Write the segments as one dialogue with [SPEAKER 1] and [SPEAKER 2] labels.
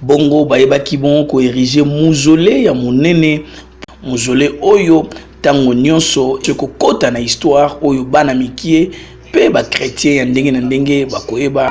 [SPEAKER 1] Bongo bayebaki bongo ko eriger mausolee ya monene, mausolee oyo tango nionso ekokota na histoire oyo bana mikie mpe ba chretiens ya ndenge na ndenge bakoyeba.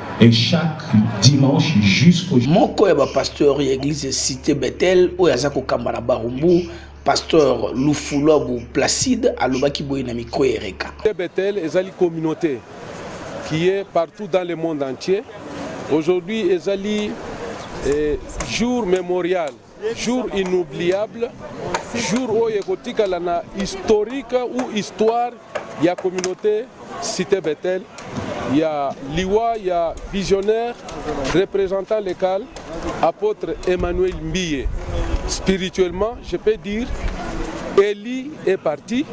[SPEAKER 2] et chaque dimanche jusqu'au moko ya bapasteur
[SPEAKER 1] ya eglise cité bethel oyo aza kokamba na barumbu pasteur lufuluabu placide alobaki boye na mikro ya ereka bethel ezali
[SPEAKER 3] communauté qui est partout dans le monde entier aujourd'hui ezali eh, jour mémorial Jour inoubliable, jour oyo ekotikala na historique ou histoire ya communauté Cité Bethel ya liwa ya visionnaire représentant local apôtre Emmanuel Mbiye. Spirituellement, je peux dire, Eli est parti.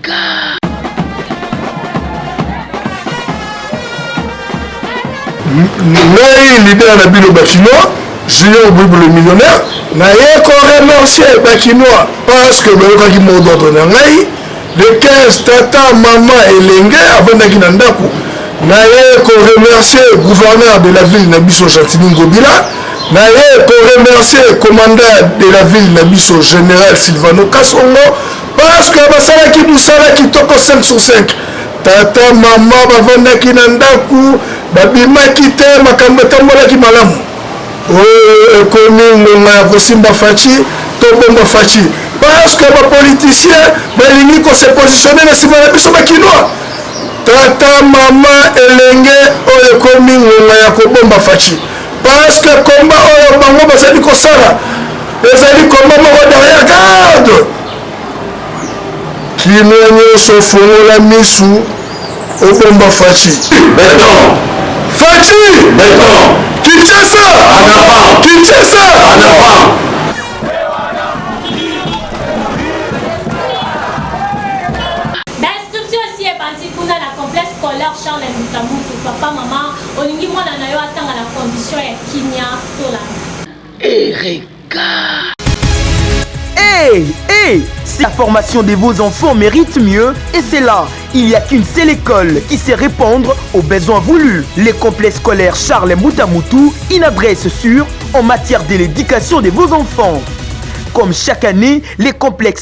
[SPEAKER 4] Afrika. ngai leader na bino bakinois junior bible le millionnaire naye koremercie bakinois parce que bayokaki mot d'ordre na ngai le 15 tata mama elenge avandaki na ndako naye koremercie gouverneur de la ville na biso gentini ngobila naye koremercie commandant de la ville na biso général silvano kasongo Parce que basalaki musala kitoko 5 sur 5. Tata mama bavandaki na ndako, babimaki te, makambo etambolaki malamu. Oyo ekomi ngonga ya kosimba Fatshi, tobomba Fatshi. Parce que ba politiciens balingi ko se positionner na sima na biso ba kinois. Tata mama elenge oyo ekomi ngonga ya kobomba Fatshi. Parce que combat oyo bango bazali kosala ezali combat moko derrière garde. Kino nyonso fongola misu obomba Fatshi. Beton.
[SPEAKER 2] Fatshi.
[SPEAKER 4] Beton.
[SPEAKER 2] Kinshasa.
[SPEAKER 4] En avant.
[SPEAKER 2] Kinshasa. En avant.
[SPEAKER 5] Olingi mwana na yo atanga na condition ya kimia to
[SPEAKER 6] landa? Ereka. Hey,
[SPEAKER 7] hey Si la formation de vos enfants mérite mieux, et c'est là, il n'y a qu'une seule école qui sait répondre aux besoins voulus. Les complexes scolaires Charles Moutamutu, une adresse sûre en matière de l'éducation de vos enfants. Comme chaque année, les complexes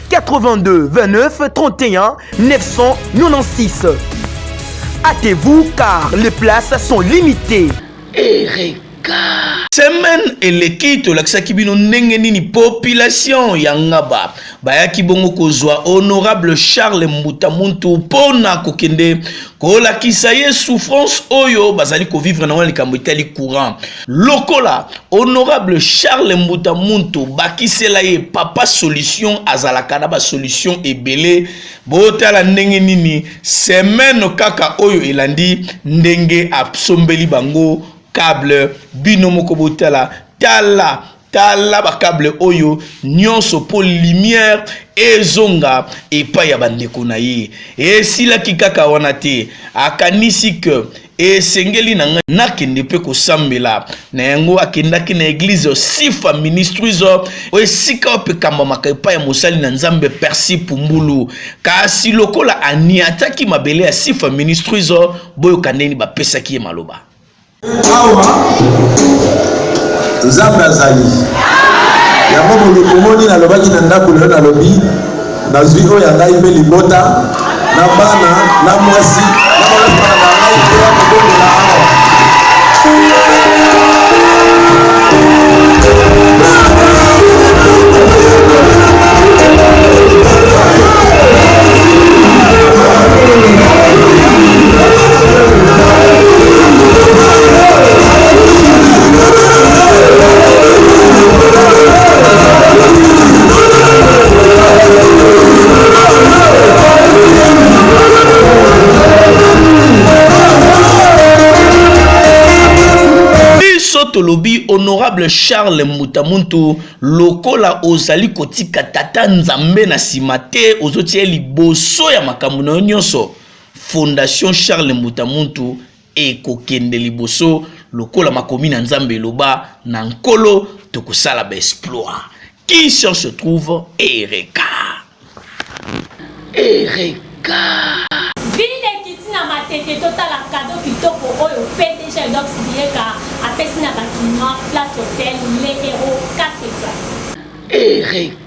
[SPEAKER 7] 82 29 31 996. Hâtez-vous car les places sont limitées. Ereka.
[SPEAKER 1] Semaine eleki tolakisaki bino ndenge nini population ya Ngaba bayaki bongo kozwa honorable Charles Mbuta Muntu mpo na kokende kolakisa ye souffrance oyo bazali kovivre na wana likambo etali courant lokola honorable charles mbuta muntu bakisela ye papa solution azalaka na basolution ebele botala ndenge nini semaine kaka oyo elandi ndenge asombeli bango cable bino moko botala tala tala ba cable oyo nyonso mpo lumière ezonga epai ya bandeko na ye esilaki kaka wana te akanisi ke esengeli na ngai nakende mpe kosambela na yango akendaki na eglize sifa ministries oyo esika oyo epekambamaka epai ya mosali na nzambe persi pumbulu kasi lokola aniataki mabele ya sifa ministries oyo boyoka ndeni bapesaki ye maloba
[SPEAKER 8] awa nzambe azali yango bolikomoni nalobaki na ndako lelo nalobi nazwi oyo ya ngai mpe libota na bana na mwasi na balabala na ngai mpe ya kobongola awa
[SPEAKER 1] tolobi honorable charles mbutamuntu lokola ozali kotika tata nzambe na nsima te ozotia ye liboso ya makambo na yo nyonso Fondation Charles Mbuta Muntu ekokende liboso lokola makomi na Nzambe eloba na Nkolo tokosala ba exploit. Qui cherche se trouve Ereka. Ereka.
[SPEAKER 5] Ville ekiti na matete totala cadeau kitoko oyo PDG Dox Bieka apesi na bakinois Flat Hotel Le Hero 4 étoiles. Ereka.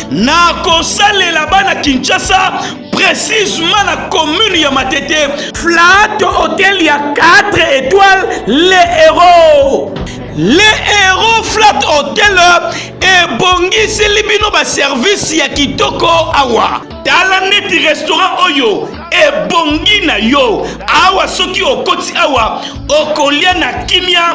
[SPEAKER 1] na kosalela bana kinshasa precisement na commune ya matete flat hotel ya 4 étoiles le héros le héros flat hotel ebongiseli bino baservice ya kitoko awa tala neti restaurant oyo ebongi na yo awa soki okoti awa okolia na kimia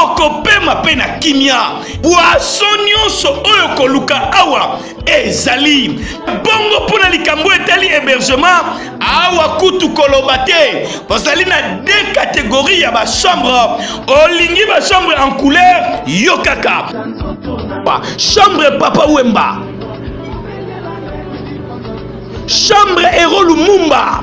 [SPEAKER 1] okopema mpe na kimia bwaso nyonso oyo koluka awa ezali bongo mpo na likambo etali hébergement awa kutu koloba te bazali na de kategorie ya bachambre olingi bachambre en couleur yo kaka chambre papa wemba chambre ero lumumba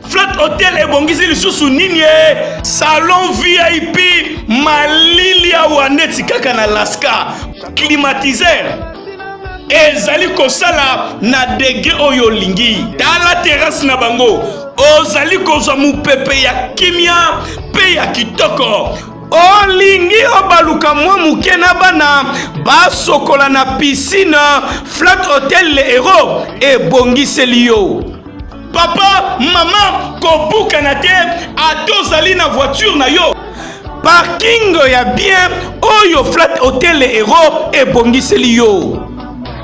[SPEAKER 1] Flat Hotel ebongisi lisusu nini ye? Salon VIP malili awa neti kaka na Alaska. Climatiseur ezali kosala na degre oyo olingi. Tala terrasse na bango, ozali kozwa mopepe ya kimia mpe ya kitoko olingi obaluka mwa moke na bana basokola na piscine flat hotel le hero ebongiseli yo papa mama kobukana te ata ozali na voiture na yo parking ya bien oyo flat hotel euro ebongiseli yo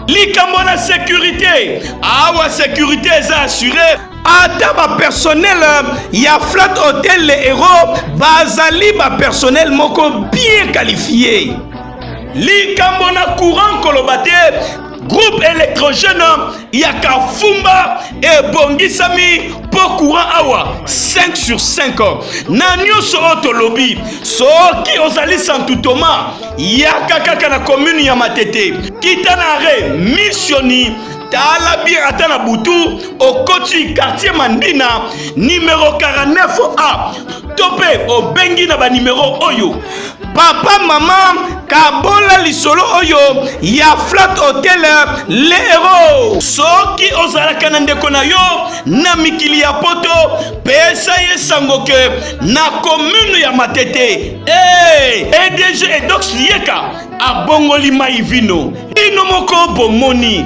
[SPEAKER 1] likambo na securite awa securite eza assure ata bapersonel ya flat hotel le euro bazali bapersonel moko bien qualifie likambo na courant koloba te groupe électrogène ya kafumba ebongisami mpo courant awa 5 sur 5 na nyonso oyo tolobi soki ozali santu toma yaka kaka na commune ya matete kita na re missioni tala bien ata na butu okoti quartier mandina numero 49 a to mpe obengi na banimero oyo papa mama kabola lisolo oyo ya flat hotel le hero soki ozalaka na ndeko na yo na mikili ya poto pesa ye sango ke na komune ya matete hey, eh, edg edox yeka abongoli mai vino ino moko bomoni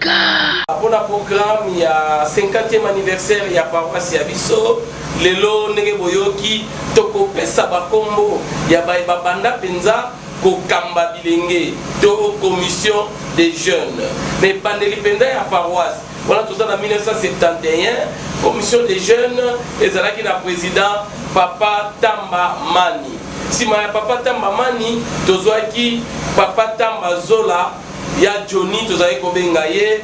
[SPEAKER 6] Car. Pona programme
[SPEAKER 9] ya 50e anniversaire ya paroisse ya biso lelo ndenge boyoki tokopesa bakombo ya baye babanda mpenza kokamba bilenge to commission des jeunes na ebandeli mpenza ya paroisse wana toza na 1971 commission des jeunes ezalaki na président papa tamba mani nsima ya papa tamba mani tozwaki papa tamba zola ya Johnny tozali kobenga ye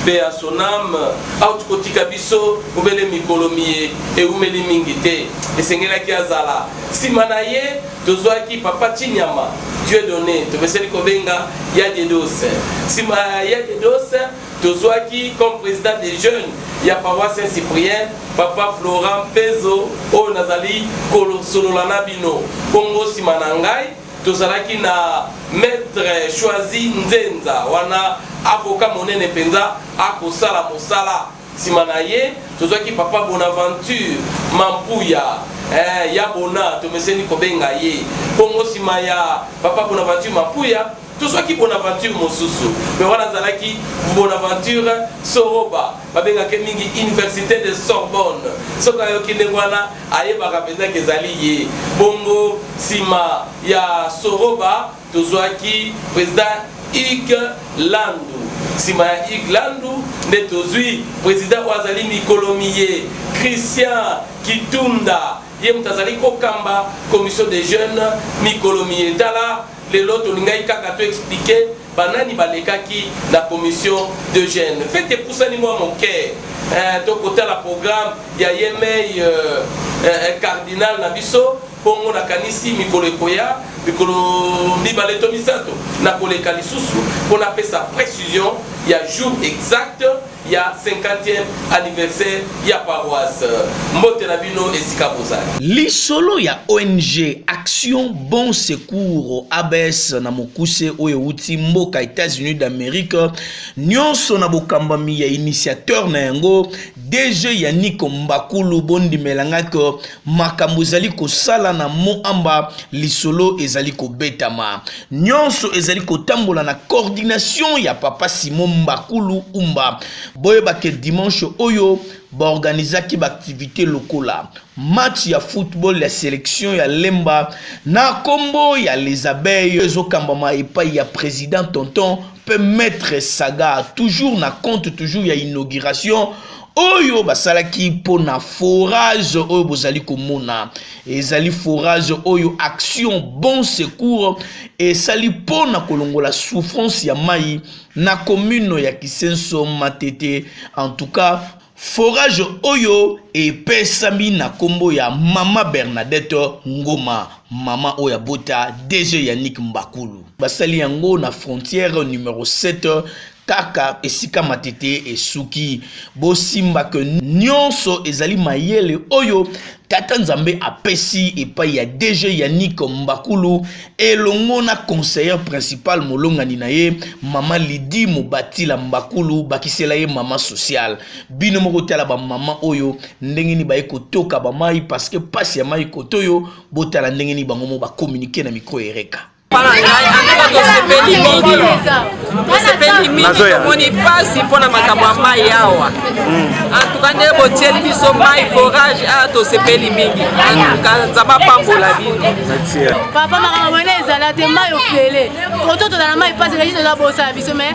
[SPEAKER 9] mpe ya son ame auti kotika biso obele mikolo miye eumeli mingi te esengelaki azala nsima na ye tozwaki papa chinyama dieu donné topeseli kobenga ya dedose nsima ya ya dedose tozwaki comme président des jeunes ya paroisse saint cyprien papa florent pezo oyo nazali kosolola na bino bongo nsima na ngai Tozalaki na Maitre Choisy Nzenza, wana avocat monene penza, akosala mosala. Sima na ye, tozwaki Papa Bonaventure Mampuya, eh, Ya Bona, tomeseni kobenga ye bongo. Sima ya Papa Bonaventure Mampuya, tozwaki Bonaventure mosusu, mais wana azalaki Bonaventure Soroba, babengaka ye mingi Universite de Sorbonne. Soki ayoki ndenge wana, Ayebaka mpenza ke ezali ye. Bongo sima ya Soroba tozuaki President Hugues Landu. Sima ya Hugues Landu nde tozui President oyo azali mikolo miye, Christian Kitunda. Ye moto azali kokamba Commission des Jeunes mikolo miye. Tala. Lelo tolingaki kaka to expliquer ba nani balekaki na commission de gène. Fete epusani mwa moke eh, tokotala programme ya yemei euh, eh, eh, cardinal na biso bongo nakanisi mikolo ekoya mikolo mibale to misato nakoleka lisusu mpo napesa précision ya jour exact ya 50e anniversaire ya paroisse. Mbote na bino esika bozali. Lisolo ya
[SPEAKER 1] ONG Action Bon Secours ABS na mokuse oyo euti mboka Etats-Unis d'Amerique nyonso na bokambami ya initiateur na yango DG Yannick Mbakulu bondimela nga makambo ezali kosala na moamba lisolo ezali kobetama nyonso ezali kotambola na coordination ya papa simon mbakulu umba boyeba ke dimanche oyo baorganizaki baaktivité lokola match ya football ya selection ya lemba na nkombo ya les abeilles ezokambama epai ya président tonton mpe maître saga toujours na compte toujours ya inauguration oyo basalaki mpo na forage oyo bozali komona ezali forage oyo action bon secours esali mpo na kolongola souffrance ya mai na commune ya kisenso matete en tout cas forage oyo epesami na nkombo ya mama bernadette ngoma mama oyo abota dg yannick mbakulu basali yango na frontière numero 7 kaka esika matete esuki bosimba ke nyonso ezali mayele oyo tata nzambe apesi epai ya dg yannick mbakulu elongo na conseillere principal molongani na ye mama lidi mobatila mbakulu bakisela ye mama sociale bino moko tala bamama oyo ndenge nini baye kotoka bamai parceke mpasi ya mai kotoyo botala ndenge nini bango mo bakominike na mikro ereka tosepelimingiomoni
[SPEAKER 10] mpasi mpo na makambo ya mai awa antuka hmm. nde botieli biso mai forage a tosepeli mingi antuka nzambe apambola bino papa makambo
[SPEAKER 11] mwana ezala te mai ofele koto tozala mai mpasi kasi toza bosala biso mai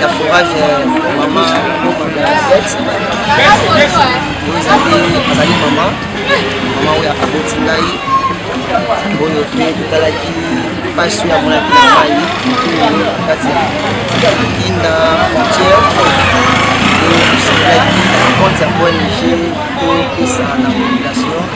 [SPEAKER 12] ya forage mama azali mama mama oyo aboti ngai oyo mpe totalaki mpasi oyo amonaki na mai kati ya kinda frontière tosalaki compte ya ong topesa na population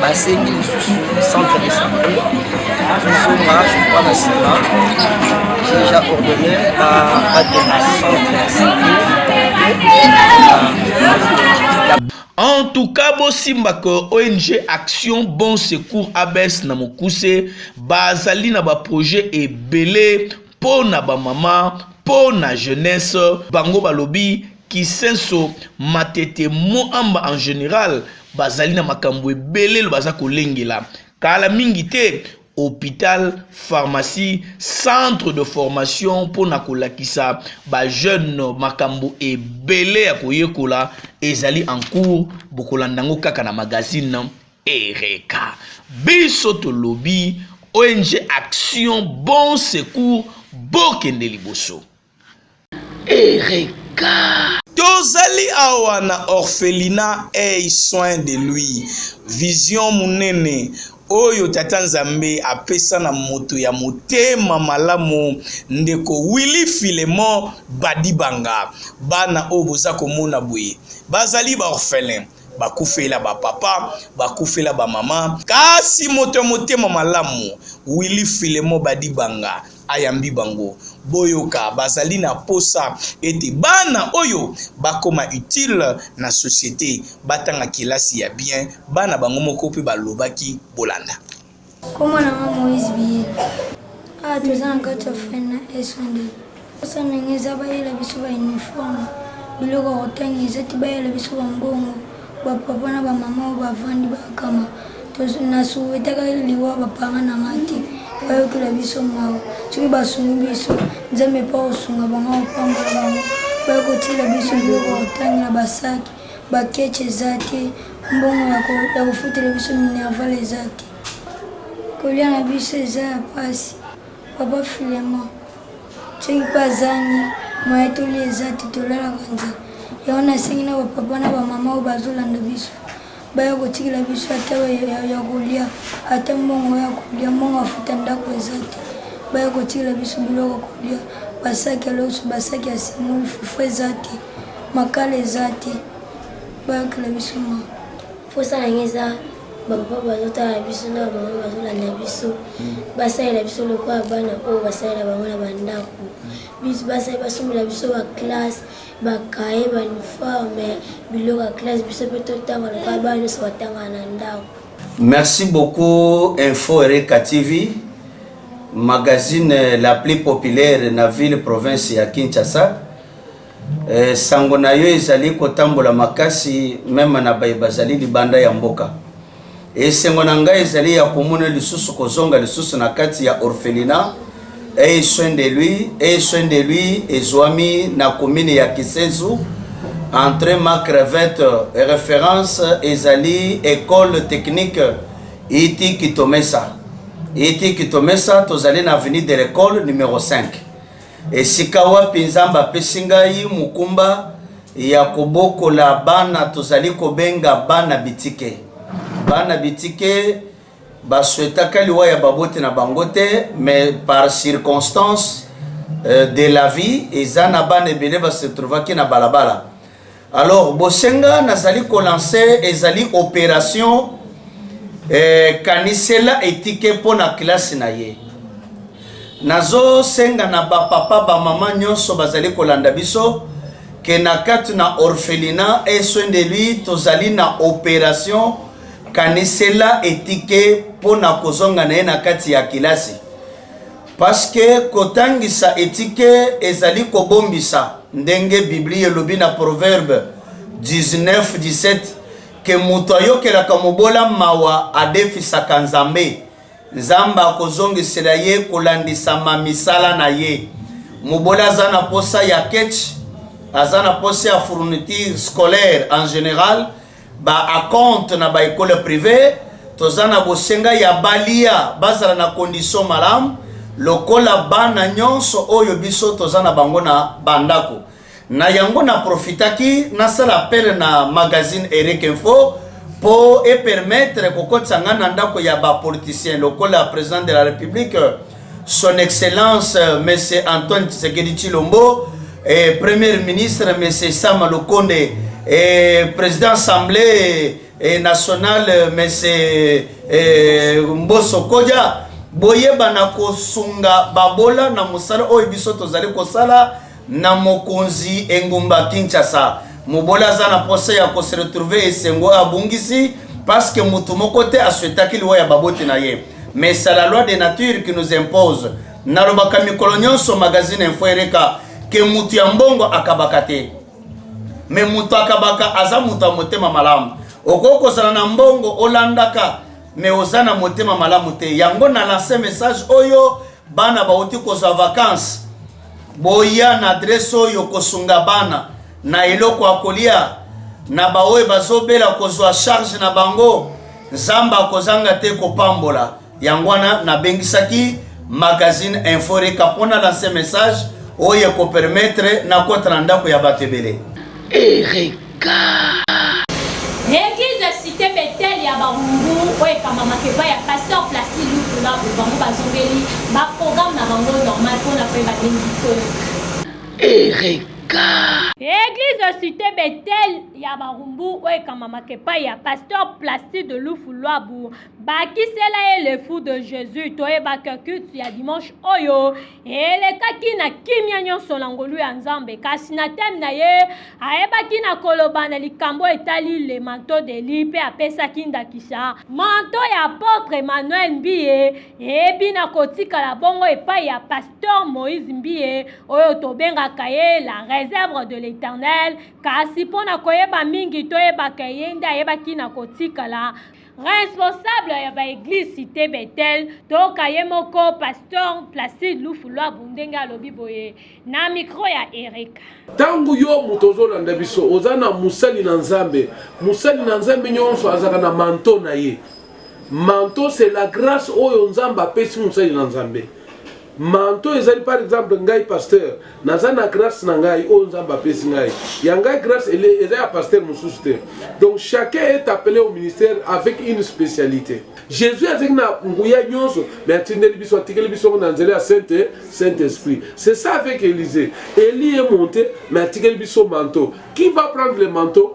[SPEAKER 12] basengi lisusu centre de santé tozonga jokwa na nsima deja ordonne babatela centre ya santé en tout cas
[SPEAKER 1] bosimba ke ong action bon secours abs na mokuse bazali na baprojet ebele mpo na bamama, mpo na jeunesse, bango balobi Kisenso, Matete, Moamba en general bazali na makambo ebele baza kolengela kala mingi te hopital, pharmacie, centre de formation mpo na kolakisa ba jeunes makambo ebele ya koyekola ezali en cours bokolanda yango kaka na magazine Ereka biso tolobi ONG Action Bon Secours bokende liboso. Ereka.
[SPEAKER 6] Tozali
[SPEAKER 1] awa na orphelinat Eye Soin de Lui, vision monene oyo Tata Nzambe apesa na moto ya motema malamu, ndeko Willy Filemon Badibanga. Bana oyo boza komona boye, bazali ba orphelins. bakufela bapapa bakufela bamama kasi moto ya motema malamu willi filemo badibanga ayambi bango boyoka bazali na posa ete bana oyo bakoma utile na societe batanga kelasi ya bien bana bango moko mpe balobaki bolanda Kombo na
[SPEAKER 13] nga Moïse Biyela. Awa toza na kati ya fin na esonde posa ndenge eza bayela biso ba uniforme biloko ya kotanga eza ti bayela biso bambongo bapapa na bamama oyo bavandi bakama na suwetaka liwa bapanga na nga te bayokela biso mawa soki basungi biso nzambe mpo kosunga bango kopambola bango baye kotiela biso biloko ya kotangela basaki Ba ketch eza te, mbongo ya ko ya kofutela biso minerval eza te, kolia na biso eza ya pasi. Papa Filemon soki mpe azangi moye toli eza te, tolalaka nzela yango nasengi na bapapa na bamama oyo bazolanda biso baya kotikela biso ata ya kolia ata mbongo ya kolia mbongo afuta ndako eza te baya kotikela biso biloko kolia basaki ya loso basaki ya simoli fufu eza te makala eza te bayokela biso ma mposa yango
[SPEAKER 14] eza bapapa bazotala biso na bamama bazolanda biso hmm. basalela biso lokola bana oyo basalela bango na bandako biso basali basombela biso baklasse bakaye bauniforme biloko ya klasse biso mpe totanga lokola bana nyonso batanga na ndako merci
[SPEAKER 15] beaucoup info ereka tv magazine la plus populaire na ville province ya kinshasa Eh, sango na yo ezali kotambola makasi meme na baye bazali libanda ya mboka. Esengo na ngai ezali ya komona lisusu kozonga lisusu na kati ya orphelina eye soin de lui eye soin de lui ezwami na commune ya Kisensu entre ma crevette référence ezali école technique iti kitomesa iti kitomesa tozali na avenue de l'école numéro 5 Esika wapi Nzambe apesi ngai mokumba ya kobokola bana tozali kobenga bana bitike. Bana bitike baswetaka liwa ya baboti na bango te, mais par circonstance euh, de la vie eza na bana ebele basetrouvaki na balabala Alors bosenga nazali kolancer ezali operation eh, kanisela etike mpo na klase na ye. Nazosenga na bapapa bamama nyonso bazali kolanda biso ke na kati na orphelina e soin de lui tozali na operation kanisela etike mpo na kozonga na ye na kati ya kilasi. Parce que kotangisa etike ezali kobombisa ndenge Biblia elobi na Proverbe 19:17 ke moto ayokelaka mobola mawa adefisaka Nzambe. Nzambe akozongisela ye kolandisama misala na ye. Mobola aza na posa ya ketch, aza na posa ya fourniture scolaire en general. ba acompte na ba ekole prive toza na bosenga ya balia bazala na condition malamu lokola bana nyonso oyo biso toza na bango na bandako na yango na profitaki nasala apele na magazine eric info mpo epermetre kokotisa ngai na ndako ya bapoliticien lokola president de la republique Son Excellence euh, Monsieur Antoine Tshisekedi Chilombo, eh, Premier Ministre Monsieur Sama Lokonde, eh, Président Assemblée eh, Nationale euh, Monsieur eh, Mboso Kodja, boyebana kosunga babola na mosala oyo biso tozali kosala na mokonzi engumba Kinshasa. Mobola aza na posa ya ko se retrouver esengo abungisi parce que mutu moko te asuetaki liwa ya baboti na ye mais c'est la loi de nature qui nous impose nalobaka mikolo nyonso magazine info ereka ke mutu ya mbongo akabaka te me mutu akabaka aza mutu ya motema malamu okoki kozala na mbongo olandaka me oza na motema malamu te yango na lanse message oyo bana bauti kozwa vakanse Boya na adresse oyo kosunga bana na eloko ya kolia na baoyo bazobela kozwa charge na bango nzambe akozanga te kopambola yango wana nabengisaki magazine inforeka mpo na lanse message oyo ekopermetre nakota na ndako ya bato ebele Eric
[SPEAKER 5] Eglise ya Cite Bethel ya Barumbu oyo ekambamaka epai ya Pasteur Placide Lutula oyo bango bazongeli ba programme na bango normal mpo na koyeba ndenge bikolo. Eglise ya Cite Bethel ya Barumbu oyo ekambamaka epai ya Pasteur Placide Lufu Luabu bakisela ye le fou de Jésus toyebaka culte ya dimanche oyo elekaki na kimia nyonso na ngolu ya nzambe kasi na teme na ye ayebaki na koloba na likambo etali le manto de li mpe apesaki ndakisa manto ya apotre emmanuel mbiye eyebi na kotikala bongo epai ya pasteur moïse mbiye oyo tobengaka ye la réserve de l'éternel kasi mpo na koyeba mingi toyebaka ye nde ayebaki na kotikala Responsable ya ba eglise cité Bethel toka ye moko pasteur Placide Lufu Lwabu ndenge alobi boye na micro ya Erika. Tango yo
[SPEAKER 3] moto ozolanda biso oza na mosali na Nzambe, mosali na Nzambe nyonso azalaka na manto na ye. Manto c'est la grâce oyo Nzambe apesi mosali na Nzambe. Manto ezali par exemple ngai pasteur naza na grâce na ngai oyo nzambe apesi ngai ya ngai grâce eza ya pasteur mosusu te donc chacun est appelé au ministère avec une spécialité jésus azalaki na nguya nyonso mais atindeli biso atikeli biso yango na nzela ya sainte saint esprit c'est ça avec élysée elie monte mais atikeli biso manteau qui va prendre le manteau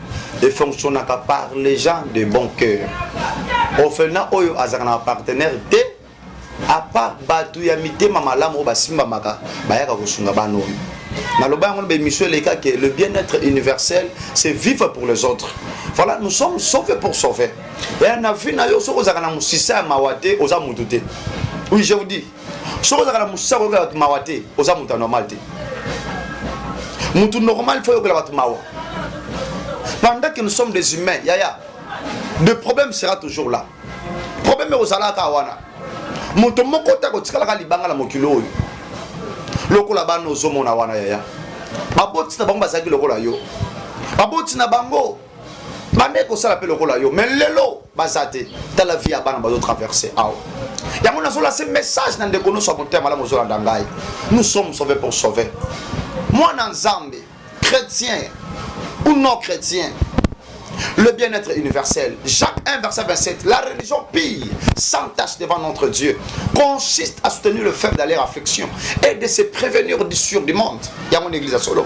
[SPEAKER 16] efonctionnaka par les gens de bon cœur orphelina oyo azalaka na bapartenaire te apart bato ya mitema malamu oyo basimbamaka bayaka kosunga bana oyo naloba yango na baémission eleka ke le bien-être universel c'est vivre pour les autres voilà nous sommes sauvés pour sauver ya na vie na yo soki ozalaka na mosisa ya mawa te oza motu te oui je vous dis soki ozalaka na mosisa koyokela bato mawa te oza moto ya normal te moto normal fo oyokela bato mawa pendant que nous sommes des humains yaya de problème sera toujours là problème ekozalaka wana moto moko te akotikalaka libanga na mokili oyo lokola bana ozomona wana yaya baboti na bango bazalaki lokola yo baboti na bango bamei kosala mpe lokola yo mais lelo baza te tala vie ya bana bazotraverse awa yango nazolase message na ndeko nyonso ya motema malamu ozolanda ngai nous sommes sauve pour sauver mwana nzambe chrétien ou non chrétien le bien-être universel. Jacques 1, verset 27. La religion pille, sans tâche devant notre Dieu, consiste à soutenir le faible d'aller à l'affliction et de se prévenir du sûr du monde. Il y a mon église à solo.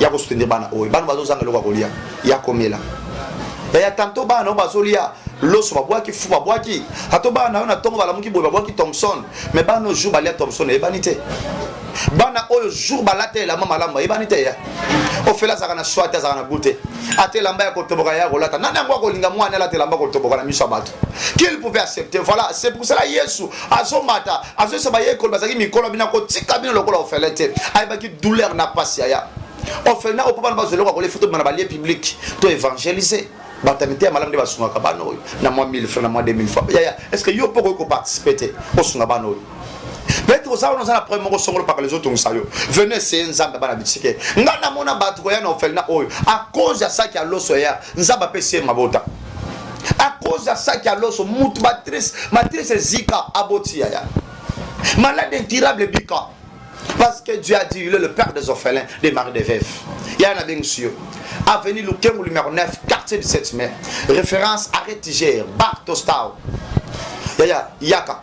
[SPEAKER 16] ya ko soutenir bana oyo bana bazo zanga eloko ya kolia ya komela yaya tanto bana na yo bazolia loso babwaki fu babwaki ato bana na yo na ntongo balamuki boye babwaki thomson me bana oyo jour balia thomson eyebani te bana oyo jour balata elamba malamu bayebani te ya ofele azalaka na swate azalaka na goute ata elamba ya kotoboka ya kolata nani yango akolinga mwana alata elamba kotoboka na miso ya bato qu'il pouvait accepter voilà c'est pour cela yesu azomata azoyesa bayekoli bazalaki mikolo bino akotika bino lokola ofele te ayebaki douleur na mpasi yaya ofele na opo bana bazwa eloko akolefi to bana balie publique to évangélise bato ya mitema malamu nde basungaka bana oyo na mwa 1000 franc na mwa 2000 franc yaya est ce que yo mpo okoki koparticipe te osunga bana oyo Petro oza wana oza na problème moko songolo pakala ezotongisa yo venu eseye nzambe bana bisike ngai namona bato koya na ofelina oyo a cause ya saki ya loso ya nzambe apesi ye mabota a cause ya saki ya loso mutu matrice matrice ezika aboti yaya malade incurable ebika Parce que Dieu a dit, il est le père des orphelins, des maris des veuves. Il y en a bien monsieur. Avenue Lukemu numéro 9, quartier du 7 mai. Référence arrêt Tiger, Bartostao. Yaya, Yaka.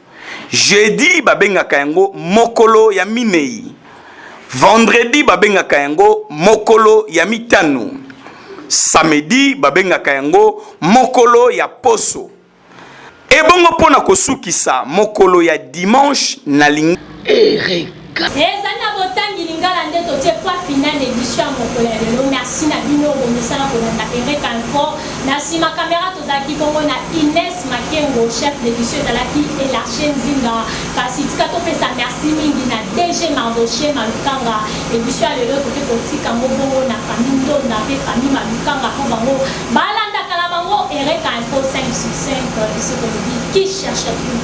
[SPEAKER 1] Jeudi babengaka yango mokolo ya minei. Vendredi babengaka yango mokolo ya mitano. Samedi babengaka yango mokolo ya poso. Ebongo pona kosukisa mokolo ya dimanche na lingi.
[SPEAKER 5] Ezali na botangi lingala nde totie point final na emission ya mokolo ya lelo. Merci na bino oyo bomesana kolanda Eureka Info. Na nsima kamera tozalaki bongo na Ines Makengo, chef d'émission ezalaki Elarche Nzinga. Kasi tika topesa merci mingi na DG Mardoche Malukanga. Emission ya lelo toke kotika yango bongo na famille Ndonda mpe famille Malukanga mpo bango balandaka na bango Eureka Info 5 sur 5 biso tolobi qui cherche plus